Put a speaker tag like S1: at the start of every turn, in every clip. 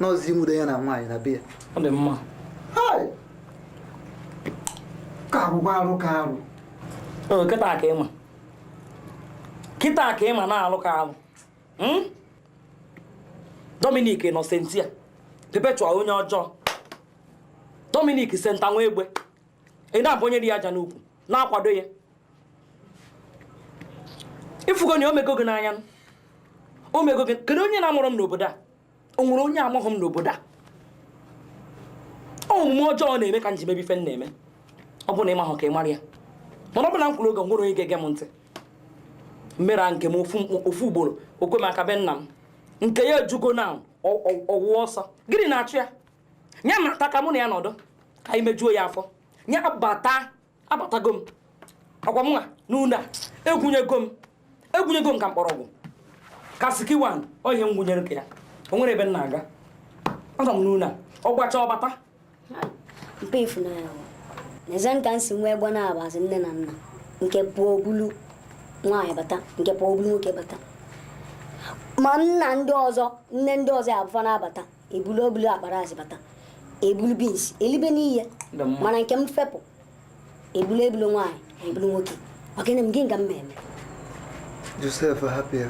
S1: nọzi nwude ya na nwaanyị na be ya ọ dị mma ka agwụgwa arụ ka arụ
S2: kịta ka ịma kịta ka ịma na arụ ka arụ hmm? Dominic Innocentia Perpetual onye ọjọọ Dominic Senta nwa egbe ị na-abụnyere ya aja n'ukwu na-akwado ya ịfụgo na o mego gị n'anya o mego gị kedu onye na-amarọ m n'obodo a o nwere onye amaghị m n'obodo a omume ọjọọ ọ na-eme ka m ji mebe ife m na-eme ọ bụ na ị mahụ ka ị mara ya mana ọ bụ na m kwuru oge nwere onye ga-ege m ntị m mere nke m ofu ugboro o kwe m aka be nna m nke ya ejugo na ọwụwa ọsọ gịnị na-achụ ya nya bata ka mụ na ya nọdụ ka anyị mejuo ya afọ nya bata abatago m ọkwa mụnwa n'ụlọ a egwunyego m egwunyego m ka mkpọrọgwụ ka sikiwan ohe m gwunyere ka ya o nwere ebe m na-aga anọ m n'ụlọ a ọ gbachaa ọ
S3: bata mpe ifunanya n'eze nka m si nwee egbo na-abazi nne na nna nke pụọ o bulu nwaanyị bata nke pụọ o bulu nwoke bata ma nna ndị ọzọ nne ndị ọzọ ya abụfa na-abata ebulu o bulu akpa rice bata ebulu beans elibe n'ihe mana nke m fepụ ebulu ebulu nwaanyị ebulu nwoke ọ gịnị m gị nga m ma eme
S1: Josef hapụ ya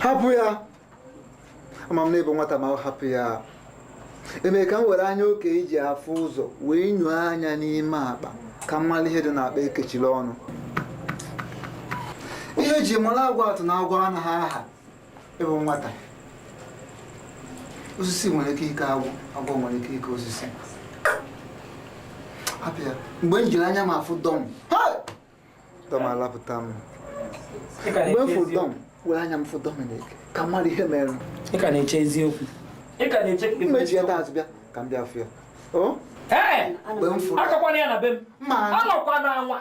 S1: hapụ ya ama m na ị bụ nwata ma ọ hapụ ya eme ka m were anya okei ji afụ ụzọ wee nyụọ anya n'ime akpa ka m mara ihe dị n'akpa e kechiri ọnụ ihe e ji mara agwa atụ na agwa anaghị aha ị bụ nwata osisi nwere ike ike agwọ agwọ nwere ike ike osisi hapụ ya mgbe m jiri anya m afụ Dom Dom alapụta m mgbe m fụ Dom were anya m fụ Dominic ka m mara ihe mere ị ka
S2: na-eche eziokwu ị ka na-eche mmechi ya taa azụbịa
S1: ka m bịa fụ ya
S2: akakwana ya na be m anọkwa na anwa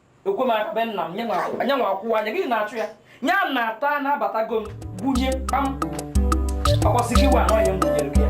S2: o kwe m aka be nna m nya nwa akwụwa anya gịnị na-achụ ya nya nata na abatago m gwunye kpam ọkwasị gị wa anọghị m gwunyere gị ya